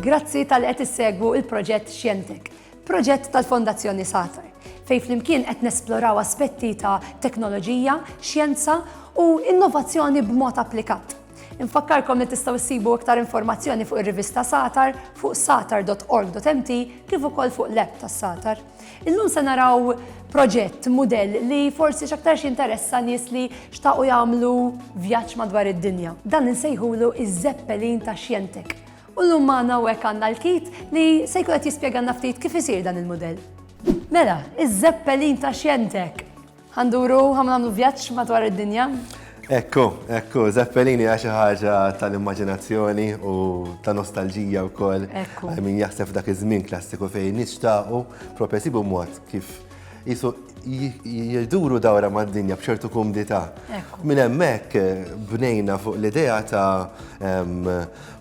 Grazzi tal qed issegwu il-proġett Xjentek, proġett tal-Fondazzjoni Satar, fej flimkien qed nesploraw aspetti ta' teknoloġija, xjenza u innovazzjoni b'mod applikat. Infakkarkom li tistgħu ssibu iktar informazzjoni fuq ir-rivista Satar fuq satar.org.mt kif ukoll fuq l-app tas-Satar. Illum se naraw proġett, mudell li forsi x'aktarx jinteressa nies li xtaqu jagħmlu vjaġġ madwar id-dinja. Dan insejħulu iż-Zeppelin ta' Xjentek. U llum magħna hekk għandna l-kit li se jkun qed jispjegalna ftit kif isir dan il-mudell. Mela, iż-Zeppelin ta' Xjentek! Ħa nduru, ħa nagħmlu vjaġġ madwar id-dinja. Ekku, ekku, Zeppelini għaxi ħaġa tal-immaginazzjoni u ta' nostalġija u koll. Ekku. Min jaħseb dak iż-żmien klassiku fejn nishtaqu propja sibu mod kif jisu jirduru dawra ma' dinja bċertu kumdita. Ekku. Min hemmhekk eh, bnejna fuq l-idea ta'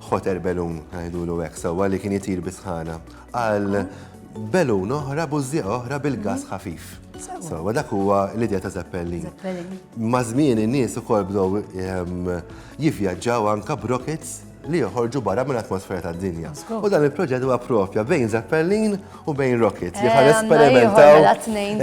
ħoter belun, għajdulu hekk, sewwa li kien jitir bisħana. għal belun oħra, bużżieq oħra bil-gass ħafif. So, dak huwa l-idea ta' Zeppelin. Ma' żmien in-nies ukoll bdew ehm, jivvjaġġaw anka brockets li joħorġu barra minn atmosfera ta' dinja. U dan il-proġett huwa propja bejn Zeppelin u bejn Rocket li ħan eh, esperimentaw.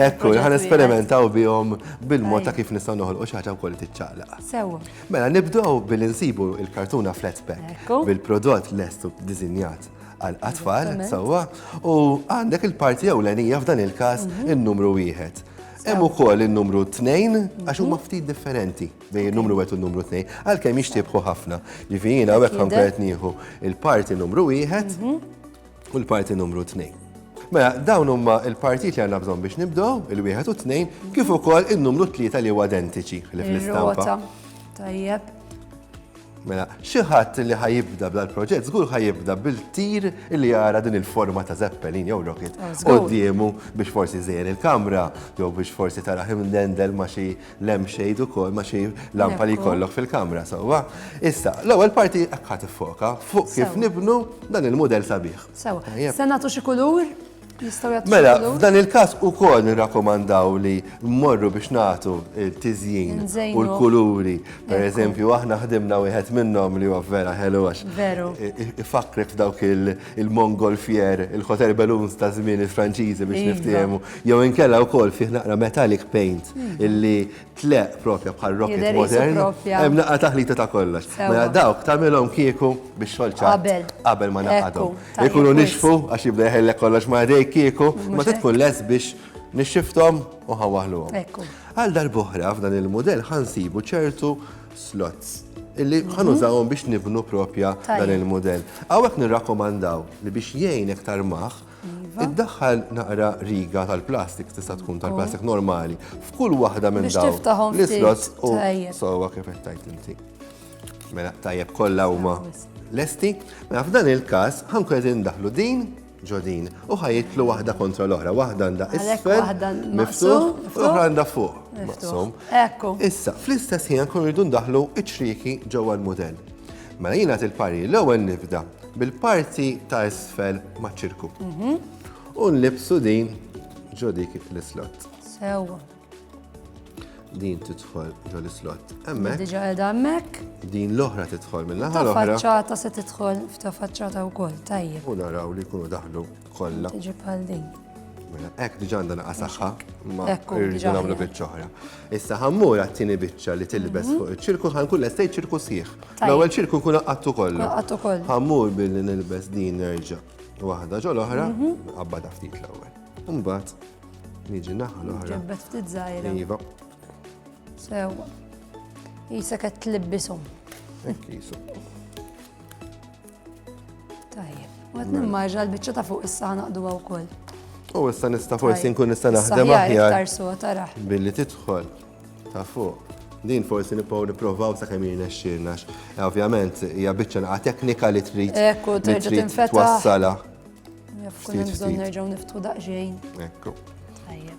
Ekku, ħan esperimentaw bihom bil-mod ta' kif nistgħu noħolqu xi ħaġa wkoll tiċċaqlaq. Sewa. Mela nibdew billi nsibu il-kartuna flat pack bil-prodott lestu dizinjat għall-atfal, sewwa, u għandek il-parti ewlenija f'dan il-każ mhm. in-numru wieħed. Hemm ukoll in-numru 2 għax huma mhm. ftit differenti bejn in-numru wieħed u n-numru 2 għalkemm jixtiebħu ħafna. Ġifieri jiena hekk konkret nieħu il-parti numru wieħed mhm. u l-parti numru 2. Mela, dawn huma l-partijiet li għandna bżonn biex nibdew, il-wieħed u tnejn, kif ukoll in-numru tlieta li huwa identiċi li fl-istampa. Tajjeb. Mela, xi ħadd li ħa jibda bla l-proġett, żgur ħa jibda bil-tir li jara din il-forma ta' Zeppelin jew rocket oh, qoddiemu biex forsi żejjer il-kamra jew biex forsi tara dendel ma' xi lampshade ukoll ma' xi lampa li jkollok fil-kamra sewwa. Issa, l-ewwel parti ħadd tiffoka fuq kif nibnu dan il-mudell sabiħ. Sewwa. Se nagħtu xi kulur? Mela, f'dan il-każ ukoll nirrakkomandaw li mmorru biex nagħtu t-tiżjin u l-kuluri. Per eżempju, aħna ħdimna wieħed minnhom li huwa vera ħelu għax. Veru. Ifakrek f'dawk il-Mongol fjer, il-Hotel Balloons ta' żmien il-Franċiżi biex niftiehmu. Jew inkella wkoll fih naqra metallic paint illi Tleq propja bħal rocket modern. Hemm naqa taħlita ta' kollox. Mela dawk tagħmilhom kieku biex xolċa qabel ma naqadhom. Ikunu nixfu għax jibda jħellek kollox ma' dej kieku, ma tkun les biex nixxifthom u ħawaħluhom. Għal darbohra f'dan il-mudell ħansibu ċertu slots illi mhm. ħanużawhom biex nibnu propja dan il-mudell. Hawnhekk nirrakkomandaw li biex jgħin iktar maħ Iva. Iddaħħal naqra riga tal-plastik, tista' tkun tal-plastik normali, f'kull waħda minn dawn. L-islots u sowa kif qed tajt inti. Mela tajjeb kollha huma lesti. Mela f'dan il-każ ħankun qed indaħlu din ġodin u ħajitlu waħda kontra l-oħra, waħda għandha isfel, miftuħ, u oħra għandha fuq. Maqsum. Ekku. Issa, fl-istess ħin kun rridu ndaħlu iċ-ċriki ġewwa l-mudell. Mela jien nagħti l-parir l-ewwel nibda bil-parti ta' isfel maċ-ċirku. Mhm. U nlibsu din ġo dik l-islot. Sewwa. Din tidħol ġo l-islot. Hemmhekk. Diġà qiegħda hemmhekk. Din l-oħra tidħol mill-aħħar l-oħra. Faċċata se tidħol f'ta' faċċata wkoll, tajjeb. U naraw li jkunu daħlu Kollha. Tiġi bħal din. Mela, Ek diġa għandha naqa saħħa, ma rridu nagħmlu biċċa oħra. Issa ħammur għat-tieni biċċa li tilbes mhm. fuq iċ-ċirku ħankun lestej ċirku sħiħ. L-ewwel ċirku nkun qaqqattu kollu. Qaqqattu kollu. Ħammur billi nilbes din nerġa' waħda ġol oħra, mhm. qabbada ftit l-ewwel. Imbagħad niġi naħa l-oħra. Ġebbet ftit żgħira. Iva. Sewa. Isa qed tlibbisum. Ekk jisu. Tajjeb. Għad nimmarġa l-bicċa ta' fuq issa naqdu għaw kol. U issa nista forsi nkun nista naħdem aħjar. Billi tidħol ta' fuq. Din forsi nipaw niprovaw sa' kemm jirna xirnax. Eh, ovvjament, hija biċċa naqa teknika li trid. Ekku, terġa' tinfetaħ. Twassala. Kun hemm bżonn nerġgħu niftu daqsxejn. Ekku. Tajjeb.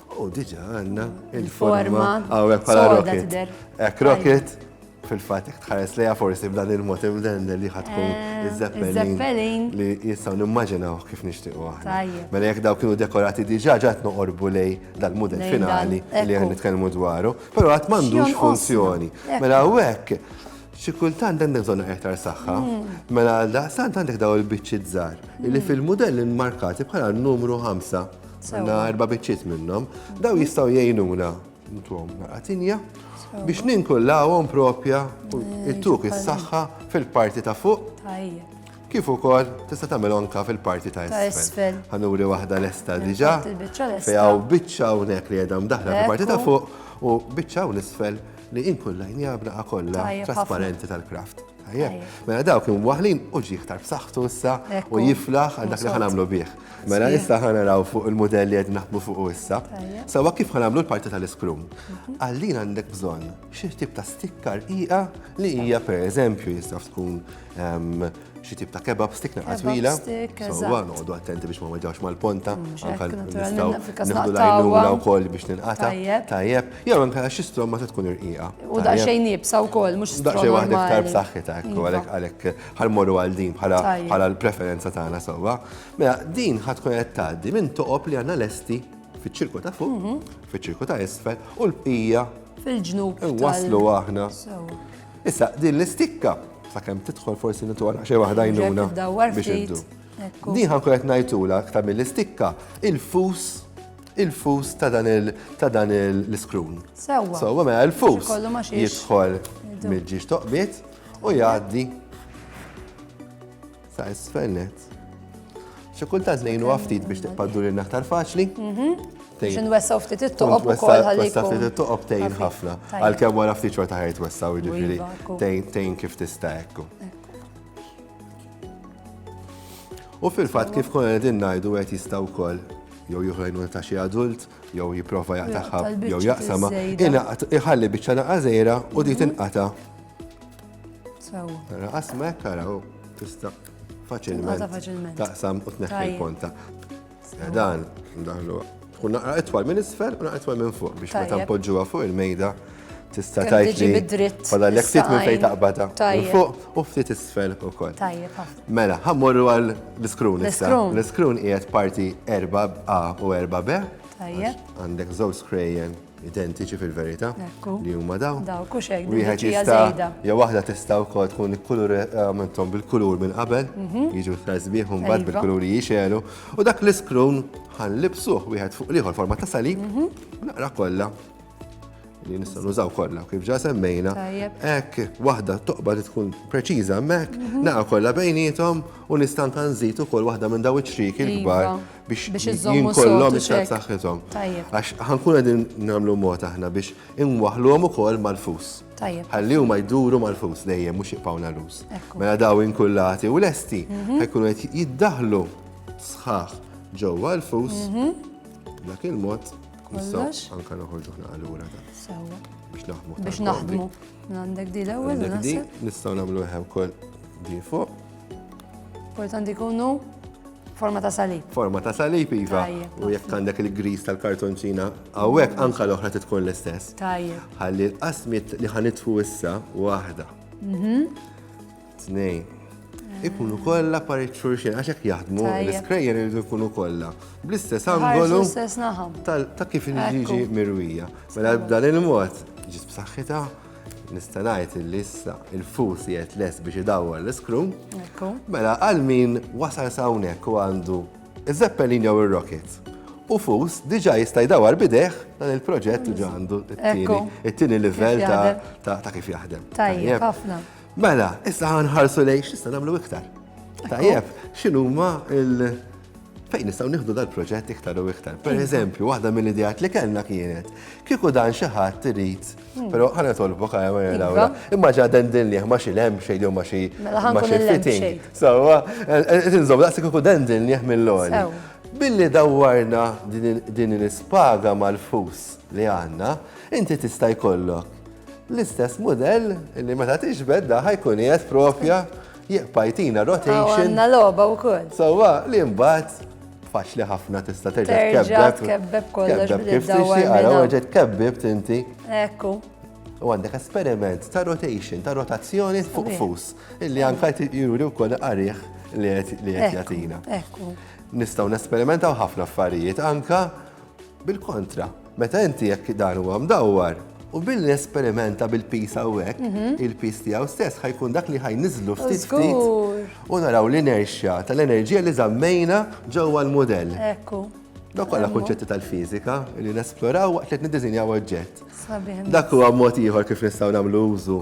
U diġa għanna il-forma għawek pala rocket. Ek rocket, fil-fat jek tħares leja forsi b'dan il-mot imdende li ħatkun eh, iż-zeppelin li jistaw nimmaġinaw kif nishtiqu għahna. Mela jek daw kienu dekorati diġa ġat noqorbu lej dal-model finali li għan nitkellmu dwaru, pero għat mandux funzjoni. Mela għawek, xikultant dan bżonn iktar saħħa, mm. mela għal daqsant għandek daw il-biċċi żgħar, li mm. fil-modell inmarkati bħala numru 5 Għanna erba biċċiet minnhom. Daw jistgħu jgħinuna ntuhom naqatinja biex ninkullawhom propja it-tuk is-saħħa fil-parti ta' fuq. Kif ukoll tista' tagħmel anka fil-parti ta' isfel. Ħanuri waħda lesta diġà. Fejja u biċċa hawnhekk li għedhom daħla fil-parti ta' fuq u biċċa u nisfel li inkullajn jabna kollha trasparenti tal-kraft. Mela dawk imwaħlin u ġi iktar b'saħħtu issa u jiflaħ għal dak li ħanamlu bih. Mela issa ħanaraw fuq il-modell li qed naħdmu fuq issa. Sawa kif ħanamlu l-parti tal-iskrum. Mhm. Għallin għandek bżonn xi tip ta' stikkar qiegħa li hija pereżempju jista' tkun ehm, xi tip ta' kebab stick naqas twila. Sawa noqogħdu attenti biex ma weġgħux mal-ponta, mm, anke nistgħu nieħdu lajnuna wkoll biex ninqata. Tajjeb. Jew inkella xi stromma se tkun irqiqa. U daqsxejn nibsa wkoll, mhux stromma. Daqsxejn waħda iktar b'saħħitha ekku iva. għalhekk għalhekk ħalmorru għal din bħala l-preferenza tagħna sewwa. Mela din ħad tkun qed tgħaddi minn toqob li għandna lesti fiċ-ċirku ta' fuq, mhm. fiċ-ċirku ta' isfel u l-bqija fil-ġnub. Waslu aħna. Issa din l-istikka sakemm tidħol forsi nitwara xi waħda jnuna biex iddu. Din ħankun qed ngħidula aktar mill-istikka il-fus il-fus ta' dan il- ta' dan il- l-iskrun. Sewwa. Sewwa mela l-fus Xi kollu ma xiex. jidħol Idu. mill-ġiex toqbiet u jgħaddi sa' isfel net. Xi kultant ngħinu ftit biex tiqpaddu lil aktar faċli. Biex nwessaw ftit it-toqob u koll ħalli Wessa ftit jkun. it-toqob tejn ħafif. ħafna. Tajjeb. Għalkemm wara ftit xorta ħajt wessaw jiġifieri Iva, ekku. tejn tejn kif tista' ekku. U fil-fatt kif konna qegħdin ngħidu qed jista' wkoll jew jieħu ta' xi adult, jew jipprova jaqtaħħa, jew jaqsama, iħalli biċċa naqqa żejra u di mhm. tinqata. Tara qasma hekk araw tista' faċilment taqsam u tneħħi l-ponta. Dan, daħlu, tkun naqra itwal minn isfel u naqra itwal minn fuq biex meta npoġġuha fuq il-mejda tista' tajti. Fadal l ftit minn fejn taqbada. Minn fuq u ftit isfel ukoll. Mela, ħammorru għal l-iskrun issa. L-iskrun qiegħed parti 4A u 4B. Għandek żewġ skrejjen identiċi fil-verità li huma daw. Daw, kux hekk, wieħed jista' jew waħda tista' wkoll tkun il-kulur għamilthom eh, bil-kulur minn qabel, mhm. jiġu l-fazbieħ u mbagħad iva. bil-kuluri jixelu, u dak l-iskrun ħan libsuh wieħed fuq liħor forma ta' salib, mhm. naqra kollha li nistgħu nużaw kollha kif ġa semmejna. Hekk waħda toqba li tkun preċiża hemmhekk, mhm. naqra kollha bejnietom u nista' nżid ukoll waħda minn daw iċ-ċriki l-kbar iva. biex jinkollhom iktar saħħithom. Għax ħankun qegħdin nagħmlu mod aħna biex inwaħluhom ukoll mal-fus. Ħalli huma jduru mal-fus dejjem mhux jibqgħuna lus. Mela daw inkullati u lesti mhm. ħajkunu qed jiddaħlu sħaħ ġewwa l-fus mhm. dak il-mod nistgħu anke noħorġu ħna allura biex naħdmu. Biex naħdmu. Għandek di l-ewwel. Nistgħu nagħmlu ħew kol di fuq. Kultant għandi kunu forma ta' salib. Forma ta' salib, Iva. U jekk għandek il-gris tal-kartonċina, għawek anka l-oħra titkun l-istess. Tajja. Għalli l-qasmit li ħanitfu issa, wahda. Mhm. Tnej. Eh. Ikunu kolla parit xurxin, għaxek jaħdmu, l-skrejjer irridu ikunu kolla. Bl-istess angolu. Ta' kif nġiġi mirwija. Mela b'dan il-mod, ġis b'saxħita. nista' ngħid li issa il-fus qiegħed lest biex idawwar l-iskru. Mela għal min wasal sawnek u għandu iż-Zeppelin jew ir-Rocket. U fus diġà jista' jdawwar bidejh dan il-proġett diġà għandu it-tieni livell ta' kif jaħdem. Tajjeb, ħafna. Mela, issa ħanħarsu lejn x'issa nagħmlu iktar. Tajjeb, x'inhuma il- fejn nistgħu nieħdu dal-proġett iktar u iktar. Per eżempju, waħda mill-idejat li kellna kienet kieku dan xi ħadd irid Hmm. Pero ħana tolbok għajja ma jena għura. Imma ġa den din liħ ma xi lem xej li ma xi. Mela ħan kun il-fitting. Sawa, tinżom daqsik u den din liħ mill-loli. Billi dawwarna din l-ispaga mal-fus li għanna, inti tista' jkollok l-istess model li meta tiġbed daħħa jkun qiegħed propja Jibqa' jtina rotation. U għandna logħba wkoll. Sewwa li mbagħad faċli ħafna tista' terġa' tkebbeb. Tkebbeb kollox kif tixtieq ara weġa' tkebbeb tinti. Ekku. U għandek esperiment ta' rotation, ta' rotazzjoni fuq fus, illi anka juri wkoll qarih li qed jagħtina. Ekku. Nistgħu nesperimentaw ħafna affarijiet anka Bil-kontra, meta inti jekk dan huwa mdawwar, u billi esperimenta bil-pis hawnhekk, mhm. il-pis tiegħu stess ħajkun dak li ħajniżlu ftit ftit u naraw l-inerxja tal-enerġija li żammejna ġewwa l-mudell. Ekku. Dak kollha kunċetti tal-fiżika li nesploraw waqt li niddiżinjaw oġġett. Dak huwa mod ieħor kif nistgħu nagħmlu użu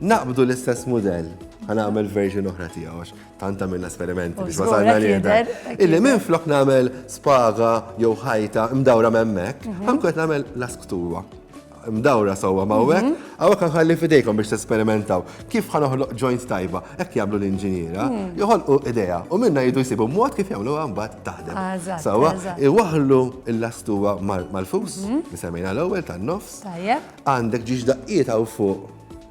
Naqbdu l-istess mudell, ħa nagħmel version oħra tiegħu għax tant għamilna esperimenti biex wasalna li jidher. Illi minn flok nagħmel spaga jew ħajta mdawra memmek, mhm. ħankun nagħmel lasktuwa mdawra sewwa mawwek, mhm. għawek għalli fidejkom biex t-sperimentaw. Kif ħanoħloq joint tajba, ekk jablu l-inġiniera, mhm. joħolqu ideja, u minna jidu jisibu mod kif jagħmlu għambat taħdem. Ah, sewwa, iwaħlu l-lastuwa mal-fus, nisemmejna l-ewwel tan-nofs. Għandek ġiex daqqiet hawn fuq.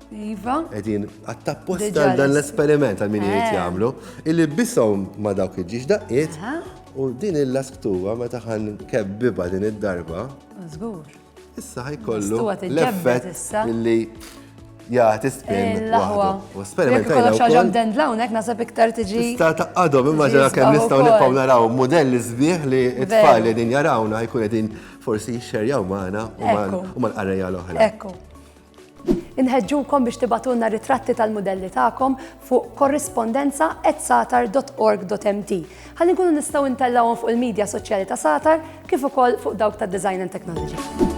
Iva. Edin, għattapposta għal dan l-esperiment għal min jgħid eh. jagħmlu, illi bisom ma dawk iġġiex daqqiet, u din il-lasktuwa meta ħan kebbiba din id-darba. Zgur. Issa ħajkollu l-effett illi jgħati spin. U esperiment għajna. Kollox ħagħam dend lawnek nasab iktar tiġi. Sta taqqadhom imma ġara kemm nistgħu nibqgħu naraw modelli sbieħ li t-tfal li din jarawna jkun qegħdin Forsi jixxerjaw magħna u mal-qarrejja l-oħra. Ekku. Inħeġġukom biex tibatulna ritratti tal-mudelli tagħkom fuq korrispondenza at satar.org.mt. Ħalli nkunu nistgħu ntellawhom fuq il-medja soċjali ta' Satar kif ukoll fuq dawk ta' Design and Technology.